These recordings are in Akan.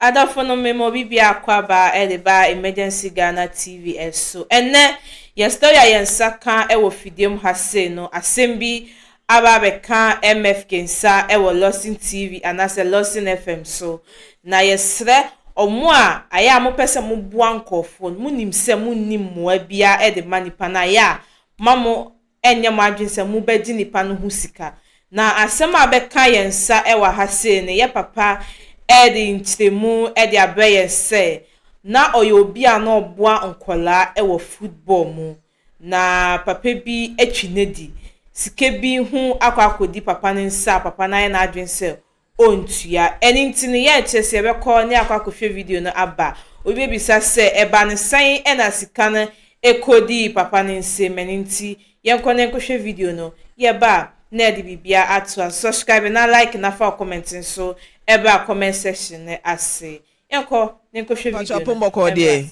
Adɔfo no me ma obi biaa akwaaba de baa Emergency Ghana TV so. Ɛnnɛ yɛn story a yɛn nsa ka wɔ fidie mu ha sei no asɛm bi aba abɛka MFK nsa wɔ Lawson TV anaasɛ Lawson FM so. Na yɛsrɛ ɔmo a ayɛ a mopɛ sɛ moboa nkorɔfoɔ no monim sɛ monnim mmoa biaa de ma nipa no ayɛ a ma mo ɛnyɛ mo adwene sɛ mobɛgye nipa no ho sika. Na asɛm a bɛka yɛn nsa wɔ ha sei no, yɛ papa de nkyerɛmu de abrɛ yɛn sɛ, na ɔyɛ obi a na ɔboa nkwadaa wɔ football mu. Na papa bi atwi no adi. Sika bi ho akɔ akɔdi papa no nsa a papa no ayɛ n'adwene sɛ ɔntua. Ɛno nti no, yɛnkyerɛ sɛ yɛbɛkɔ ne akɔ akɔhwɛ video no aba. Obi bɛbisa sɛ, Ɛbaa no sɛn na sika no kɔdii papa no nsam? Ɛno nti, yɛnkɔ na yɛnkɔhwɛ video no. Yɛba a, na yɛde biribiara atoa so. Subscribe na like na fa wo comment nso bra comment section no ase. Yɛnkɔ ne nkɔhwɛ video no. Mpacho apɔnkɔ deɛ.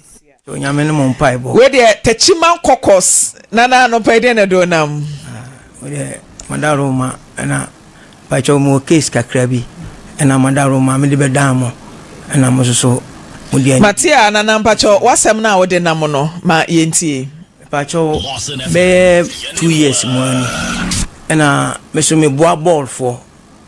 Onyame no mo mpae bɔ. Wei deɛ tachima kɔkɔs nana anɔpa yi deɛ na do nam. Ah, wei deɛ mada roma ɛna mpacho mo case kakra bi ɛna mada roma me de bɛ dan mo ɛna mo soso mo deɛ. Mate a nana mpacho wasɛm na wode nam no ma yɛntie. Mpacho bɛyɛ two years mu ani ɛna me so me boa bɔɔlfoɔ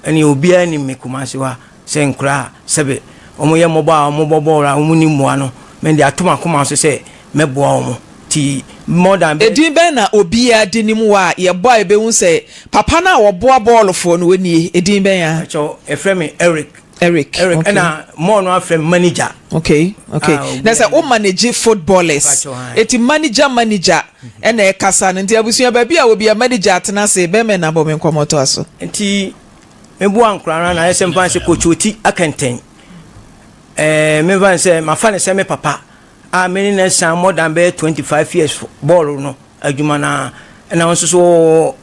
Ɛneɛ obiara nim me Kumasi wa sɛ nkoraa sɛbe wɔn yɛ mmɔbɔ a wɔn bɔ bɔɔl a wɔn nni mmoa no me de ato m'akoma so sɛ mɛ boa wɔn ti more than bɛ. Edin bɛn na obiara de nim wo a yɛ bɔ a yɛ bɛ hu sɛ papa no a ɔboa bɔɔlofoɔ no wɔ nie edin bɛn a. Mpakyɛw yɛ frɛ me Eric. Eric ok. Eric ɛna more no afrɛ me manager. Ok ok na sɛ wo manage footballers eti manager manager. ɛna ɛkasa no nti abusua baabi a obi a mma ne gya atena ase bɛmɛ na bɔ me nkɔmmɔ toa so. Nti me boa nkora no anaa ɛsɛ mfa sɛ kɔtwi ɔti akɛntɛn ɛɛ me mfa sɛ mafa ne sɛ me papa a me ne na san more than bɛyɛ 25 years bɔɔlo no adwuma no a ɛna nso so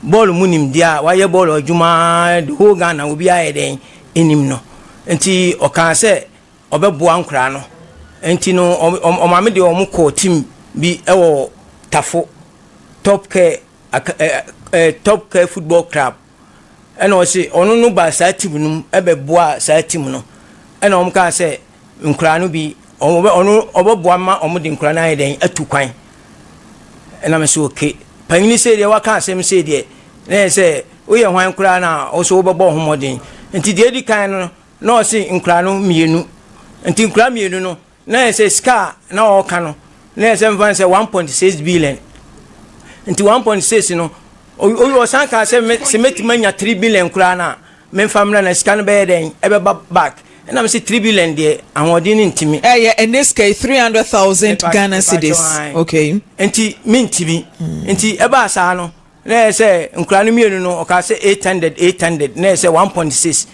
bɔɔlo mu nim deɛ a wayɛ bɔɔlo adwuma the whole Ghana obi ayɛ dɛn nim no nti ɔkaa sɛ ɔbɛboa nkwadaa no nti no, wɔn maame deɛ wɔn kɔɔ team bi wɔ Tafo Top Care aka ɛɛ ɛɛ Top Care Football Club ɛna ɔsi ɔno no baa saa team no mu ɛbɛboa saa team no ɛna wɔn kaa sɛ nkwadaa no bi ɔbɛ ɔno ɔbɛboa ma wɔn de nkwadaa no ayɛ dɛn atu kwan ɛna mɛ sɛ oke panyin sɛ deɛ waka asɛm sɛ deɛ na yɛ sɛ woyɛ hwan koraa na ɔsɛ wobɛbɔ ho mmɔden nti deɛ edi kan no Na ɔse nkwadaa no mmienu nti nkwadaa mmienu no na yɛ sɛ sika a na ɔreka no na yɛ sɛ mfa no sɛ one point six billion nti one point six no ɔsan kaa sɛ me sɛ mɛtumi anya three billion koraa no a memfa mmra na sika no bɛyɛ dɛn ɛbɛba back ɛna me sɛ three billion deɛ ahoɔden no ntumi ɛyɛ ɛne sika yi three hundred thousand Ghana cedis okay nti mentumi nti ɛbaa saa no Na ɛyɛ sɛ nkwadaa no mmienu no, ɔkaa sɛ eight hundred, eight hundred, na ɛyɛ sɛ one point six.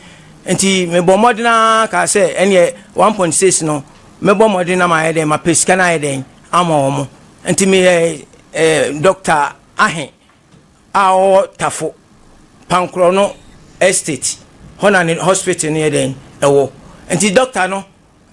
Nti mebɔ mmɔden ara kaa sɛ ɛneɛ one point six no mɛbɔ mmɔden na mayɛ dɛn mapɛ sika no ayɛ dɛn ama wɔn. Nti meyɛ eh, Dr. Ahe a ɔwɔ Tafo Pankorɔ no estate hɔ na ne hospital no yɛ dɛn ɛwɔ. Nti dɔkta no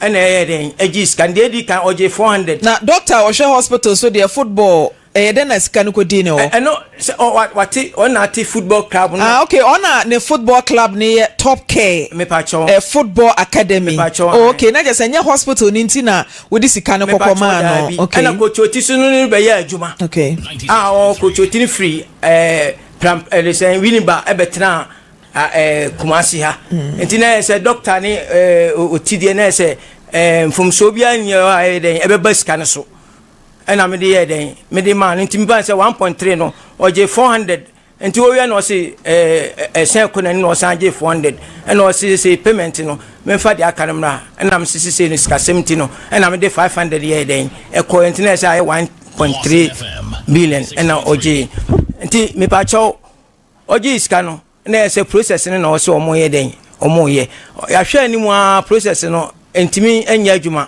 Ɛna ɛyɛ dɛn ɛgye sika. Deɛ edi kan ɔgye four hundred. Na doctor a ɔhwɛ hospital so deɛ football ɛyɛ dɛn na sika no kɔ di ne hɔ. Ɛno sɛ ɔ wate ɔn na ate football club no. Ah okay ɔn na ne football club no yɛ top care. Mepakyɛw. Ɛɛ football academy. Mepakyɛw. Oh okay na kyerɛ sɛ nyɛ hospital no nti na wode sika no kɔ kɔ maa no. Mepakyɛw daabi. Okay. Ɛna coach oti so no no rebɛyɛ adwuma. Okay. Ah ɔn coach oti no firi ɛɛ pram ɛde sɛn Winneba ɛbɛtenaa. Kumasi ha nti na sɛ dɔkta ne ɔti deɛ na sɛ mfomsoɔ bi anyɛ hɔ a ɛyɛ dɛn ɛbɛba sika no so ɛna mede yɛ dɛn mede maa no nti meba sɛ 1.3 no ɔgye 400 nti wɔwia na ɔse ɛsɛn kɔ n'ani na ɔsan gye 400 ɛna ɔse sɛ payment no memfa deɛ aka no mmra ɛna mese sesei no sikasɛm nti no ɛna mede 500 yɛ dɛn ɛkɔ nti na ɛsɛ ayɛ 1.3 billion ɛna ɔgye nti mepakyɛw Ɔgyee sika no na ɛyɛ sɛ process no na ɔwɔ sɛ wɔn yɛ dɛn wɔn yɛ. Yɛahwɛ anim ara process no ntumi nyɛ adwuma.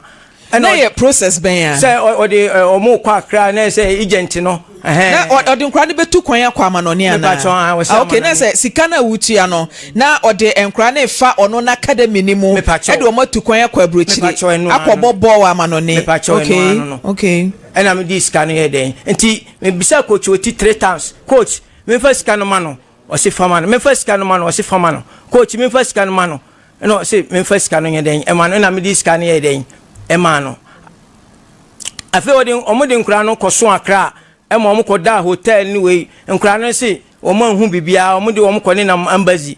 Na yɛ process bɛn a. Sɛ ɔde wɔn kɔ akra na yɛ sɛ agent no. Na ɔde nkora no bɛtu kwan akɔ amanɔne anaa. Mepatwɔ a wɔsɛ amanɔne. Ok na sɛ sika no a wotua no na ɔde nkora no refa ɔno na academy no mu. Mepatwɔ. Ɛde wɔn atu kwan akɔ aburokyire. Mepatwɔ ɛno ara no. Akɔ bɔ bɔɔl amanɔne. Mepatwɔ ɛno ara no no. Ok ok. Ɛna mede sika no yɛ dɛn nti mebisa coach ɔti three times coach Menfa sika no ma no, ɔse fa ma no, menfa sika no ma no, ɔse fa ma no, coach menfa sika no ma no, ɛna ɔse menfa sika no nyɛ dɛn ɛma no, ɛna mede sika no yɛɛ dɛn ɛmaa no. Afei ɔde wɔn de nkwadaa no kɔso akra ɛma wɔn kɔdaa hotel ne wei, nkwadaa no se wɔn anhu biribiara, wɔn de wɔn kɔ nenam embassy.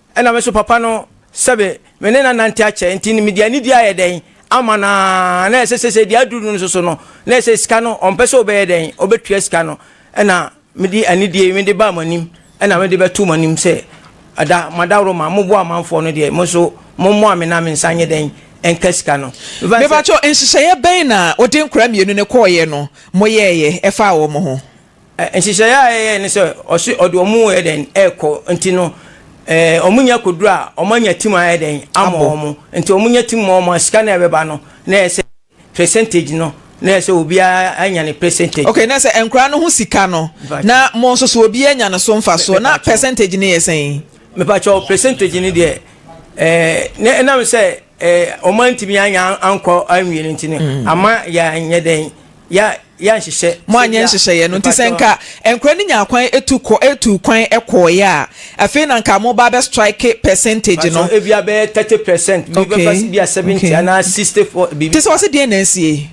Ɛna me nso papa no sɛbe me ne no anante akyɛ nti no mede anidie ayɛ dɛn ama no aa na ɛsɛ sɛ sɛ ɛdi aduru no nso so no na ɛsɛ sɛ sika no ɔmpɛ sɛ ɔbɛyɛ dɛn ɔbɛtua sika no ɛna mede anidie yi mede baa mo anim ɛna mede bɛtoo mo anim sɛ ada madaworo ma mo boa amanfoɔ no deɛ mo nso mo mmoa me na me nsa nyɛ dɛn ɛnka sika no mefane sɛ. Mepakyɛw nhyehyɛeɛ bɛn na wode nkwadaa mmienu no kɔeɛ no moyɛeɛ ɛfaa wɔn ho? Nhyehyɛeɛ a yɛyɛɛ ne sɛ ɔse ɔde wɔn yɛ dɛn ɛkɔ nti no wɔn nyɛ kɔduru a wɔn anya tim ayɛ dɛn amɔ wɔn nti wɔn nya tim ma wɔn a sika no a ɛbɛba no na ɛyɛ sɛ percentage no na ɛyɛ sɛ obiara anya ne percentage. Okay na sɛ nkwadaa no ho sika no na mo nso so obiara nya ne so mfasoɔ na percentage no yɛ sɛn? Mepa kyɛw percentage no deɛ ɛɛ ne ɛnam sɛ wɔantumi anya ankɔ anwie no nti no mm. ama yɛanyɛ dɛn yɛ yɛ nhyehyɛ. mo anyɛ nhyehyɛeɛ no nti sɛ nka nkora no nya kwan etu kɔ etu kwan kɔɔeɛ a afei na nka mo ba bɛ strike percentage no. pàṣẹ ebi abɛyɛ thirty percent. okay okay bi bɛ fa bi a seventy anaa sixty four. te sɛ ɔsi deɛ na esie.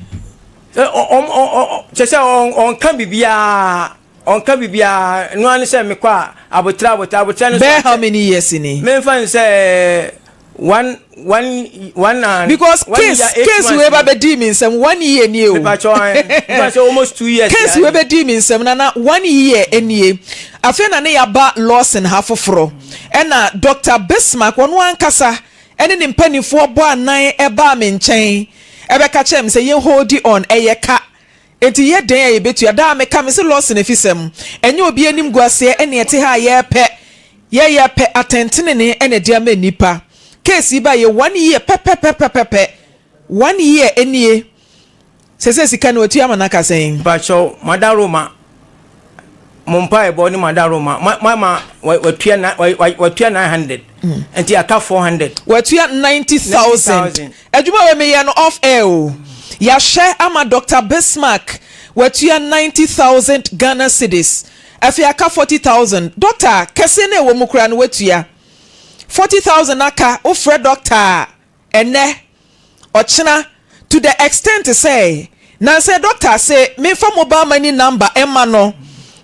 ɔ ɔ ɔ kyɛ sɛ ɔnka biribiara. Ɔnka biribiara, ɛno ara ne sɛ mekɔ a, aboterɛ, aboterɛ, aboterɛ no so akyɛ. Bɛyɛ how many years ni? Memfa no sɛ one, one, one and, Because one case, year, eight case months wei ba ni. bɛdii me nsam one year nie o. Mepakyɛw ae, memfa no sɛ almost two years ni Case wei ae. bɛdii me nsam na na one year nie. Afei na ne yɛaba Lawson ha foforɔ. Ɛna Doctor Bismark, ɔno ankasa ne ne mpanimfoɔ bɔɔ anan baa me nkyɛn bɛka kyerɛɛ me sɛ yɛn holdi on, ɛyɛ ka. Enti yɛ dɛn a yɛbɛtua? Daa meka mese Lawson afisɛm ɛnyɛ obi anim guaseɛ ɛne ɛte ha a yɛpɛ yɛ yɛpɛ atɛntenenee ɛna ɛde ama nnipa. Case yi ba yɛ one year pɛpɛpɛpɛpɛpɛ one year nie sɛsɛ sika no watua ama no aka sɛn? Mpakyɛw Mada Roma mo mpaebɔ ne mo adaroma ma ma ma wa- watua na wa- wa- watua nine hundred nti aka four hundred watua ninety thousand 90,000. adwuma wei meyɛ no off air o yɛahyɛ ama dr bismark watua ninety thousand ghana cedis afei aka forty thousand dɔkta kɛseɛ no a ɛwɔ mu koraa no watua forty thousand aka wofrɛ dɔkta a Ɛnnɛ, ɔkyena, to the extent sɛ nansɛ doctor se menfa mobile money number mma no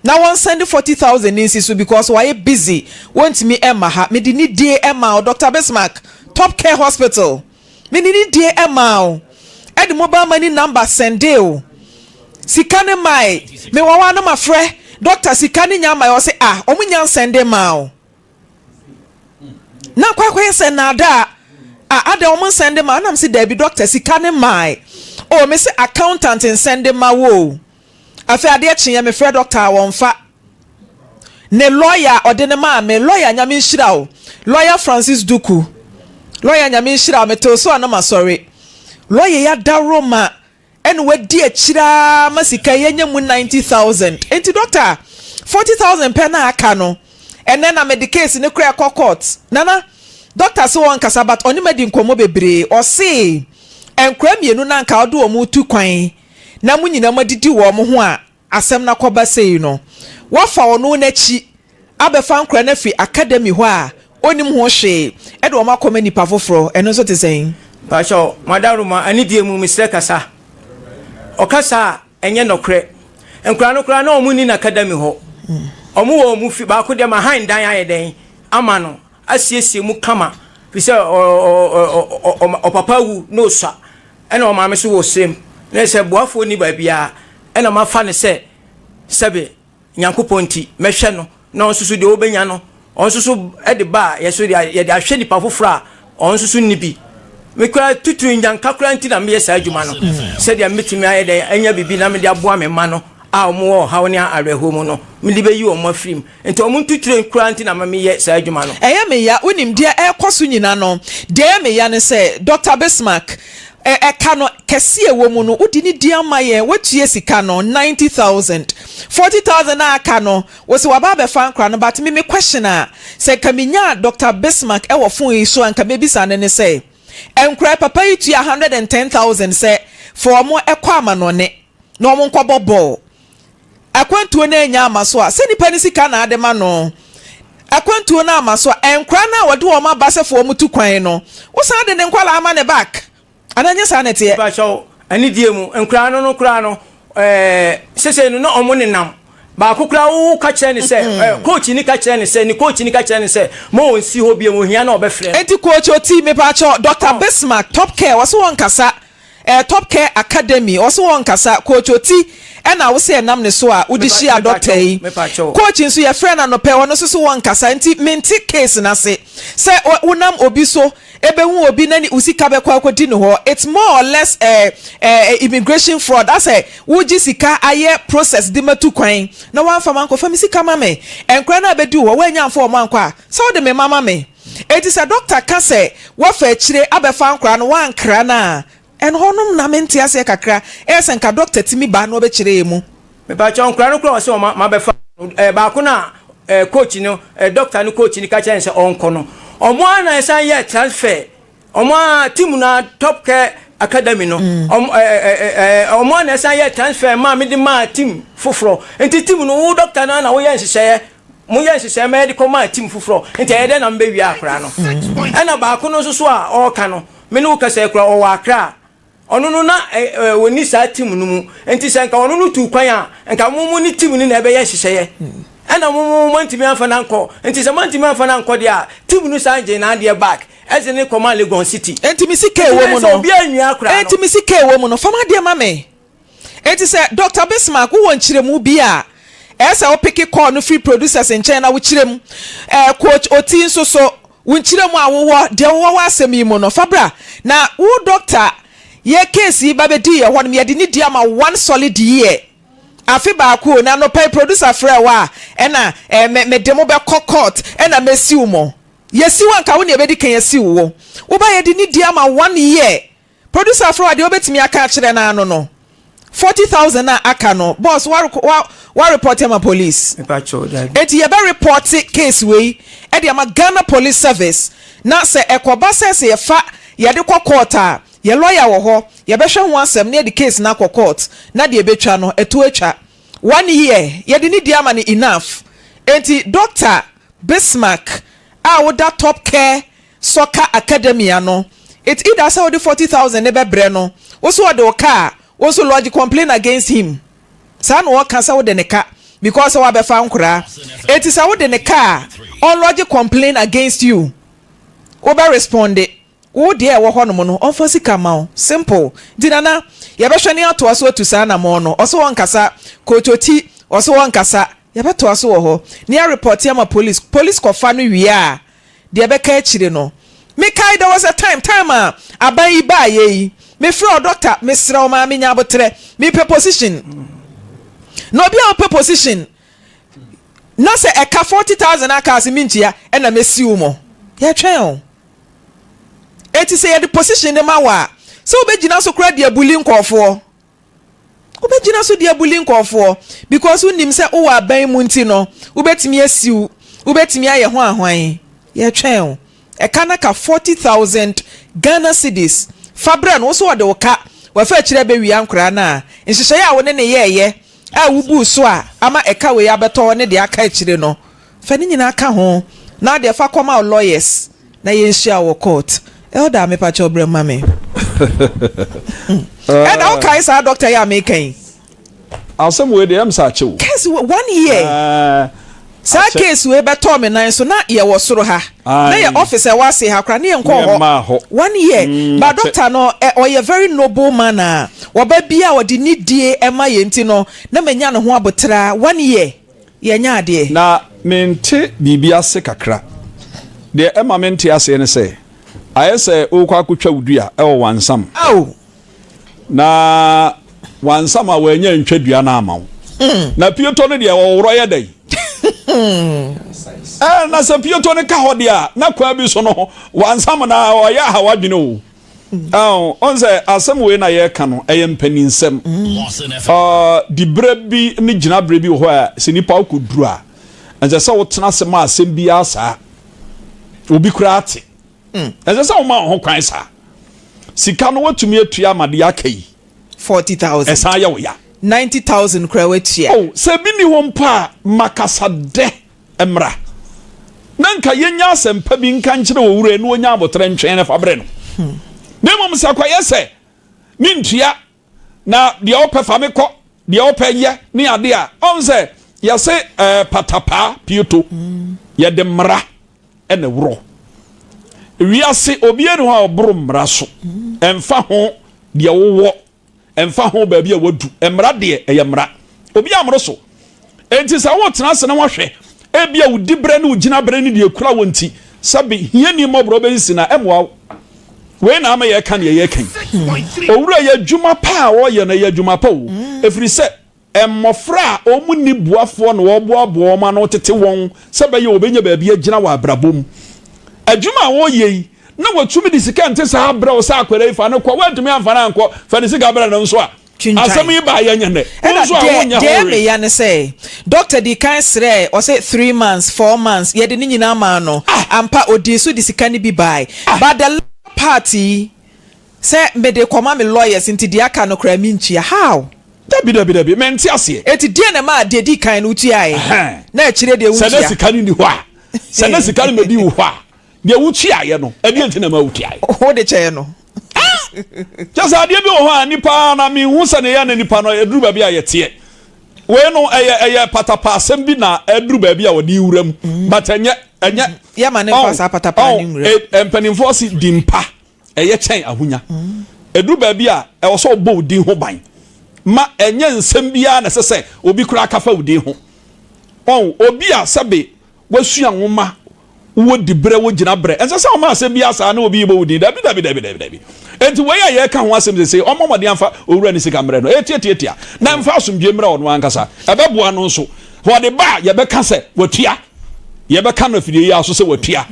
na wɔnsɛnde forty thousand nsi so because wayɛ busy wɔntumi mma ha. Mede nidie maa wo Doctor Bismark Top Care Hospital, mede nidie maa wo de mobile money number sɛndee wo sika no mae. Mewawa no mafrɛ doctor sika no nya mmae ɔse ah wɔnnya nsɛnde mmaa wo. na kɔ akɔyɛ sɛ naadaa a adɛn ɔmo nsɛn de ma ɛna mese daabi doctor sika ne mae o mese accountant nsɛn de ma wo o afei adeɛ kyeeɛ mefrɛ doctor a wɔnfa ne lawyer a ɔde no maa me lawyer nyame nhyira o lawyer Francis Duku lawyer nyame nhyira o metew so a na masɔre lawyer yi adaworo ma ɛna wadi akyire ara ma sika yi anya mu ninety thousand nti dɔkta forty thousand pɛ na aka no ɛnɛ na mede case no koraa kɔ court nana dɔkta se ɔnkasa but ɔne madi nkɔmmɔ bebree ɔse nkora mmienu na nka ɔde wɔn retu kwan na mo nyinaa moadidi wɔn ho a Asɛm no akɔba sei no, wɔafa ɔno n'akyi abɛfa nkora no afiri academy hɔ a ɔnnim ho hwee de wɔn akɔma nnipa foforɔ. Ɛno nso te sɛn? Mpakyɛw Madam Roma anidie mu mesrɛ kasa ɔkasa a ɛnyɛ nɔkorɛ nkwadaa no koraa na wɔn nni no academy hɔ wɔn wɔ wɔn fie baako deɛ ma han dan ayɛ dɛn ama no asiesie mu kama firi sɛ ɔpapa awu na ɔsua ɛna ɔmaame nso wɔ ɔsrɛ mu na ɛsɛ sɛ boafoɔ nni baabiara ɛna mafa no sɛ sɛbe Nyankopɔn nti mɛhwɛ no na ɔnso so deɛ ɔbɛnya no ɔnso so de ba a yɛso yɛde ahwɛ nipa foforɔ a ɔnso so nni bi me koraa tutu nyanka koraa nti na meyɛ saa adwuma no sɛdeɛ mɛtumi ayɛ dɛn anya biribi na mede aboa me mma no a wɔwɔ ɔhaw ne awerɛhoɔ mu no mede bɛyi wɔn afiri mu Enti wɔn ntuturen koraa nti na meyɛ saa adwuma no. Ɛyɛ me ya. Wonim, deɛ ɛrekɔ so nyina no, deɛ ɛyɛ me ya ne sɛ, Dɔkta Bismarck, ɛ, ɛka no, kɛseɛ ɛwɔ mu no, wode no di ama yɛn, woatua sika no, ninety thousand. Forty thousand a aka no, wose waba abɛfa nkora no, but me, me question a, sɛ nka menya Dɔkta Bismarck ɛwɔ fon yi so a, nka mɛbisa no ne sɛ, nkora yi, papa yi tua hundred and ten thousand sɛ, fa wɔn kɔ amanɔne. na wɔnkɔbɔ bɔɔl. Akwantuo no annya amma so a, sɛ nipa no sika na ade ma no, akwantuo no amma so a, nkwadaa no a wɔde wɔn aba sɛ fa wɔn tu kwan no, wosan de ne nkwadaa ma no back. Anaa ɛnyɛ saa na ɛteɛ? Mepakyɛ wo, anidie mu nkwadaa no no koraa no, eh, seesei no na wɔn nenam. Baako koraa wo ka kyerɛ no sɛ, eh, coach no ka kyerɛ no sɛ, ne coach no ka kyerɛ no sɛ, ma ɔnsi hɔ bio, ohia no a ɔbɛfrɛ no. Enti coach ɔti, mepakyɛ wo, Doctor Bismark, Top Care, ɔse wɔnkasa. Eh top care academy ɔse wɔ nkasa coach oti ɛna wose ɛnam ne so a wode hyia doctor yi coach nso yɛfrɛ no anɔpɛ ɔno nso se wɔ nkasa nti mente case no ase sɛ wonam obi so ɛbɛhu obi na ne wo sika bɛkɔ akɔdi ne hɔ it's more or less eh, eh, eh immigration fraud asɛ wogye sika ayɛ process de matu kwan na woamfa mankɔfa me sika ma me ɛnkora no a bɛdi wo hɔ woanya mfa wɔn ankɔ a Sɛ wode me mma ma me. Enti sɛ dɔkta ka sɛ woafa akyire abɛfa nkwadaa no woankra no a, ɛhɔ nom na mente aseɛ kakra. Ɛyɛ sɛ nka dɔkta tumi ba na ɔbɛkyerɛ yɛn mu. Mepakyɛw, nkwadaa no koraa a wɔse mabɛfa no, baako no a coach no, dɔkta no coach no ka kyerɛɛ no sɛ ɔnkɔ no, wɔn ara na ɛsan yɛɛ transfer. Ɔmo a team no ara top kɛ academy no ɔmo ɛɛ eh, ɛɛ eh, eh, ɔmo a na ɛsan yɛ transfer maa me de maa team foforɔ nti team no wo doctor no ara na woyɛ nhyehyɛeɛ mo yɛ nhyehyɛeɛ ma yɛde kɔ maa team foforɔ nti ɛyɛ dɛ na mbɛwia akora no ɛna baako no nso so a ɔɔka no me ne wo kasa kura ɔwɔ akra a Ɔno no na ɔnni saa team no mu, enti sɛ nka ɔno no tuu kwan a, nka mo mo ne team no na ɛbɛyɛ nhyehyɛeɛ. Ɛna mo mo moantumi amfa no ankɔ, enti sɛ moantumi amfa no ankɔ deɛ a, team no san gyee n'adeɛ back de no kɔmaa Legon City. Enti me sika a ɛwɔ mu no, enti me sika a ɛwɔ mu no, fa m'adeɛ ma me. Enti sɛ Dɔkta Bismark wowɔ nkyerɛmu bi a, ɛyɛ sɛ wopeke kɔɔ no firi producers nkyɛn na wokyerɛ mu. Ɛɛ, Coach Oti nso so, wo nkyerɛmu a wowɔ, deɛ wowɔ w'asɛm yi mu no, fa bra. Na wo dɔkta, yɛ case yi ba bɛdi yɛn hɔnom, yɛde no di ama wo one solid year, afe baako o, na anɔpa yi producer frɛɛ wo a, ɛna ɛɛ, me, mede mo bɛkɔ court, ɛna mɛsiw mo. Yɛsiw a, anka wo na yɛbɛdi kan asiw wo. Woba yɛde no di ama one year, Producer afrɛ wo a deɛ wobɛtumi aka akyerɛ no ara no no forty thousand a aka no boss woareko wa wa report ama police Mepa kyɛw dabi. enti yɛbɛ report case wei de ama Ghana police service na sɛ ɛkɔba sɛ sɛ yɛfa yɛde kɔ court a yɛ lawyer wɔ hɔ yɛbɛhwɛ ho asɛm na yɛde case no akɔ court na deɛ ɛbɛtwa no ɛto atwa one year yɛde ne die ama no enough enti Doctor Bismark a woda Top Care Soccer Academy ano, it's either sɛ wode forty thousand no bɛbrɛ no, wo so ɔde wo ka a, wo nso lodge complain against him. Saa na wɔka sɛ wode ne ka because sɛ wabɛfa nkoraa. Enti sɛ wode ne ka a, ɔnlodge complain against you. Wobɛ responde. Wo deɛ a ɛwɔ hɔnom no, ɔmfa sika mma wo. Simple. Nti Nana, yɛbɛhwɛ ne atoa so atu saa anamɔn no. Ɔse ɔnkasa. Koototi, ɔse ɔnkasa. Yɛbɛtoa so wɔ hɔ. Ne yɛarepɔte ama police. Police kɔfa no wie a, Deɛ ɛbɛka akyire no mekae there was a time time a aban yi baeɛ yi mefrɛ wo doctor mesrɛ wo maa menya aboterɛ mepɛ position na obi a ɔpɛ position na sɛ ɛka forty thousand aka ase mentua ɛna mɛsi wo mɔ yɛtwɛn o ɛti sɛ yɛde position de ma wo a sɛ wobɛgyina so koraa de abuli nkɔɔfoɔ Wobɛgyina so de abuli nkurɔfoɔ because wonim sɛ wowɔ aban mu nti no wobɛtumi asiw, wobɛtumi ayɛ ho ahwan? Yɛtwɛn wo. Ɛka no ka forty thousand Ghana cedis fa brɛ no, wo nso ɔde wo ka, wafa akyire abɛwia nkoraa no a nhyehyɛeɛ a wo ne no yɛeɛ a wobuu so a ama ɛka wei abɛtɔ ne deɛ aka akyire no Fa ne nyinaa ka ho na deɛ fa kɔma wo lawyers na yɛnhyia wo wɔ court. Elder mepakyɛw brɛ mu ma me. Ɛna wo kae saa doctor yi a meka yi. Asɛm wei deɛ ɛm sɛ akyɛ o. Case wɔ one year. Saa case wei bɛtɔɔ me nan so na yɛ wɔ soro ha na yɛ office ɛwɔ ase ha koraa na yɛ nkɔɔ hɔ one year but doctor no ɔyɛ very noble man a ɔba bia ɔde nidie ɛma yɛ nti no na manya ne ho aboteraa one year. yɛnyɛ adeɛ. Na mente biribi ase kakra. Deɛ ɛma mente aseɛ ne sɛ, ayɛ sɛ worekɔ akɔtwa wo dua wɔ Wansam, Ao! na Wansam a wannya antwa dua no amma wo. Na piotɔ no deɛ, ɔworɔ yɛ dɛn? Ɛɛ, na sɛ piotɔ no ka hɔ deɛ a, na kwan bi so no, Wansam na ɔyɛ aha w'adwene o. Ɔn sɛ asɛm wei na yɛka no ɛyɛ mpaninsɛm. Diberɛ bi ne gyinaberɛ bi wɔ hɔ a sɛ nipa wokɔ duru a ɛnsɛ sɛ wotena ase ma asɛm bi ara saa. Obi kura ate. Ɛnsɛ sɛ woma wo ho kwan saa. Sika no watumi atua ama deɛ aka yi. Forty thousand. Ɛsan yɛ wo ya. Ninety thousand kura watua. Oh, sɛ bi ni hɔ mpo a makasa dɛ. Mmra na nka yennya asɛmpa bi nka nkyerɛ owura yi na onnya aboterɛ ntwɛn no fa brɛ no. Na mmom sɛ kɔyɛ sɛ me ntua na deɛ wopɛ fa me kɔ, deɛ wopɛ yɛ ne ade a, ɔn sɛ yɛse eh, patapaa pieto, yɛde mmara na ɛworɔ. Wiase obiara ni hɔ a ɔboro mmara so, ɛmfa ho deɛ wowɔ Ɛmfa ho baabi a wadu, mmara deɛ, ɛyɛ mmara. Obiara mmoro so. Enti sɛ wotena ase na woahwɛ, ebia wo diberɛ ne wo gyinaberɛ ne deɛ ekura wo nti, sɛbe hiani mmɔborɔ bɛsisi no a, ɛmmoa wo. Wei na ama yɛreka deɛ yɛreka yi. Owura yi, adwuma pa a ɔreyɛ no, ɛyɛ adwuma pa o, ɛfiri sɛ, Mmofra a wɔnni boafoɔ na wɔboaboa wɔn ano tete wɔn sɛ ɛbɛyɛ a wɔbɛnya baabi agyina wɔ abrabɔ mu. Adwuma a wɔreyɛ yi, na wɔtumi de sika a ɛnte saa brɛ wo sɛ akwadaa yi fa no kɔ, woantumi amfa no ankɔ, fa ne sika brɛ no nso a. Asɛm yi baeɛ nyɛ nnɛ. Wo nso a wonyɛ hɔ hwee. Ɛna deɛ ɛyɛ meya ne sɛ, dɔkta dii kan srɛɛ, ɔse three months, four months, yɛde ne nyinaa maa no. Ampa, ɔdii so de sika no bi bae. But the latter part yi, Sɛ mede kɔma me lawyers nti deɛ aka no koraa mentua how? Dabi dabi dabi mente aseɛ. Enti deɛn na ɛmaa deɛ ɛdi kan no wotuaeɛ Ɛhɛn. na akyire deɛ Sɛ na wontua? sika no nni hɔ a, sɛ na sika no bɛdi wo hɔ a, deɛ wotuaeɛ no ɛdeɛn nti na ɛmaa wotuaeɛ? Wode kyɛɛ no. Kyerɛ sɛ adeɛ bi wɔ hɔ a nipa ara na menhu sɛdeɛ ɛyɛ ne nipa no ɛduru baabi a yɛteɛ. Wei no ɛyɛ ɛyɛ patapaa asɛm bi na ɛduru baabi a ɔde wura mu but ɛnyɛ ɛnyɛ Yɛma no mfa ɔn saa patapaa no ɔn nwura mu. eh, mpanimfoɔ se di mpa Ɛyɛ kyɛn ahonya. Ɛduru baabi a, ɛwɔ sɛ wobɔ wo din ho ban ma ɛnyɛ nsɛm biara na ɛsɛ sɛ obi koraa ka fa wo din ho. Wɔn, obi a sɛbe wasua nwoma, wowɔ diberɛ, wogyina berɛ, ɛnsɛ sɛ ɔma asɛm biara saa na obi rebɔ wo din. Dabi, dabi, dabi, dabi, dabi. Enti wei a yɛreka ho asɛm seesei, ɔmmɔ mmɔden mfa owura no sika mmrɛ no, ɛyɛ tiatiatia, na mfa asomdwoeɛ mmra ɔno ankasa. Ɛbɛboa no nso. Ɔde ba a, yɛbɛka sɛ watua. Yɛbɛka no afidie yi ara so sɛ watua.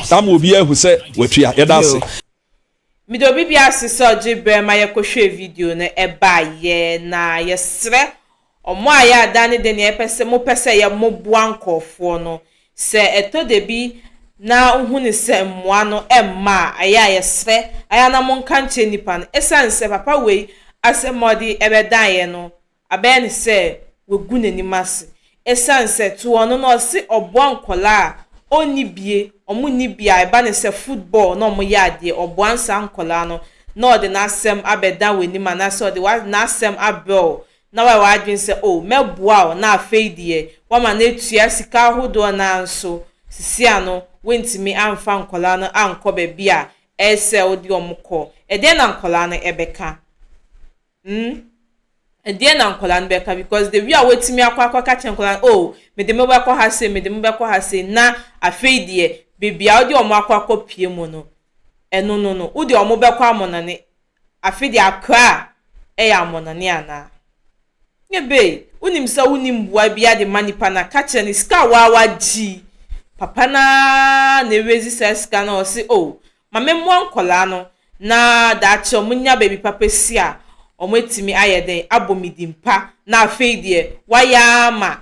Saa ma obiara ahu sɛ watua. Yɛda ase. Meda obi biara ase sɛ ɔgye berɛ ma yɛkɔhwɛɛ video no baeɛ, na yɛsrɛ wɔn a yɛada ne deɛ nea yɛpɛ mopɛ sɛ yɛ moboa nkorɔfoɔ no, sɛ ɛtɔ dabi na wohu no sɛ mmoa no mma a, ɛyɛ a yɛsrɛ ayɛ a na monka nkyerɛ nnipa no, ɛsiane sɛ papa wei asɛm a ɔde bɛdaeɛ no Abɛyɛ no sɛ wagu n'anim ase ɛsiane sɛ to wɔn no na ɔse ɔboa nkwadaa a ɔnni bie, wɔn nni bie a ɛba no sɛ football na wɔn yɛ adeɛ, ɔboa no saa nkwadaa no na ɔde n'asɛm abɛda w'anim anaasɛ ɔde wa n'asɛm abrɛ wo na wayɛ w'adwene sɛ oh mɛboa wo na afei deɛ wama no atua sika ahodoɔ nanso sisi ano wontumi amfa nkwadaa no ankɔ baabi a ɛyɛ sɛ wode wɔn kɔ, ɛdeɛn na nkwadaa no ɛbɛka? Hmm, ɛdeɛn na nkwadaa no bɛka because the way a watumi akɔ akɔka kyerɛ nkwadaa no, oh, mede mo bɛkɔ ha sei, mede mo bɛkɔ ha sei, na afei deɛ baabi a wode wɔn akɔ akɔpue mu no, ɛno no no, wode wɔn bɛkɔ amɔnane, afei deɛ Accra yɛ amɔnane anaa? Nyɛ bɛi, wonim sɛ wonni mmoa biara de ma nipa no a, ka kyerɛ no, sika a woa wagye yi, papa no ara na ɛrezi saa sika no a ɔse oh, ma memmoa nkwadaa no na daakye wɔnya baabi papa si a, wɔatumi ayɛ dɛn abɔ me din pa na afei deɛ wɔayɛ ara ma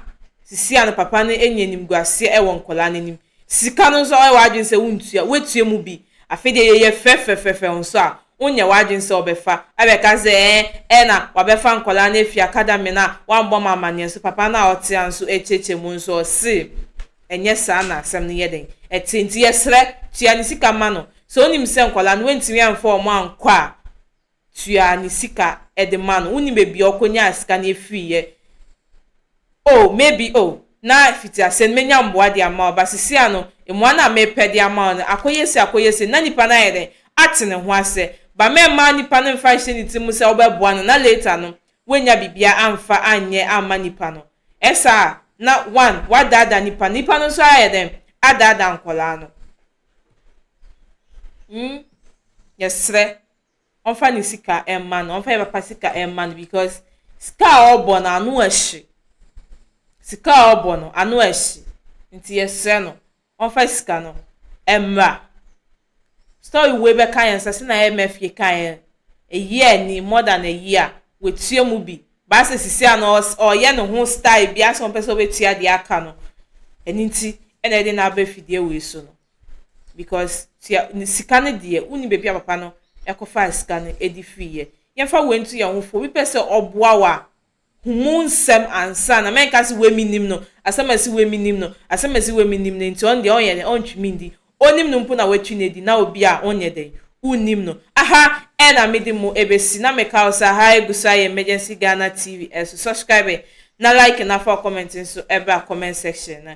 sisi a no papa no anya animguaseɛ wɔ nkwadaa no anim. Sika no nso woayɛ w'adwene sɛ wontua, woatua mu bi, afei deɛ yɛyɛ fɛfɛfɛfɛ nso a, wonyɛ w'adwene sɛ wobɛfa abɛka sɛ ɛɛ ɛɛ na wɔabɛfa nkwadaa no afiri academy no a woammɔ me amanneɛ nso papa no a ɔte ha nso rekyɛkyɛ mu nso ɔse, Ɛnyɛ saa na asɛm no yɛ dɛn? Ɛte, nti yɛsrɛ, tua ne sika ma no. Sɛ wonim sɛ nkwadaa no wantumi amfa wɔn ankɔ a, tua ne sika de ma no. Wonnim baabi a ɔkɔnyaa sika no firiiɛ. Oh, maybe, oh, na fiti aseɛ no mɛnya mmoa de ama wo, but seesei ano, mmoa no a merepɛ de ama wo no, akɔyɛ sei, akɔyɛ sei, na nipa no ayɛ dɛn? Ate ne ho asɛ. But mɛmma nipa no mfa nhyɛ ne tiri mu sɛ wobɛboa no, na later no, woannya biribiara amfa anyɛ amma nipa no. Ɛsaa a, na one, wadaadaa nipa, nipa no nso ayɛ dɛn? Adaadaa nkwadaa no. Hmm, yɛsrɛ, ɔmfa ne sika mma no, ɔmfa yɛn papa sika mma no because sika a ɔbɔ no ano ahye. Sika a ɔbɔ no ano ahye, nti yɛsrɛ no, ɔmfa sika no mmra. Story wei bɛka yɛn sɛ sɛnea Emefiele kaeɛ no, a year ni, more than a year, watua mu bi, but asɛ sisi a no ɔreyɛ ne ho style bi, asɛ ɔmpɛ sɛ ɔbɛtua deɛ aka no, ɛno nti na ɛde no aba afidie wei so no, because tua, sika no deɛ, wonni baabi a papa no kɔfaa sika no de firiiɛ. Yɛmfa wei nto yɛn ho fo, obi pɛ sɛ ɔboa wo a, hu mu nsɛm ansa na mɛnka se wei mennim no, asɛm a ɛse wei mennim no, asɛm a ɛse wei mennim no, enti ɔno deɛ ɔnyɛ dɛn, ɔntwe me nni, ɔnim no mpo na watwi no adi, na obi a wonyɛ dɛn, wonnim no, aha ɛna mede mo ɛbɛsi, na meka wo sɛ aha ɛgu so ayɛ Emergency Ghana TV, ɛso subscribe na like na fa wo comment nso ɛbra comment section no,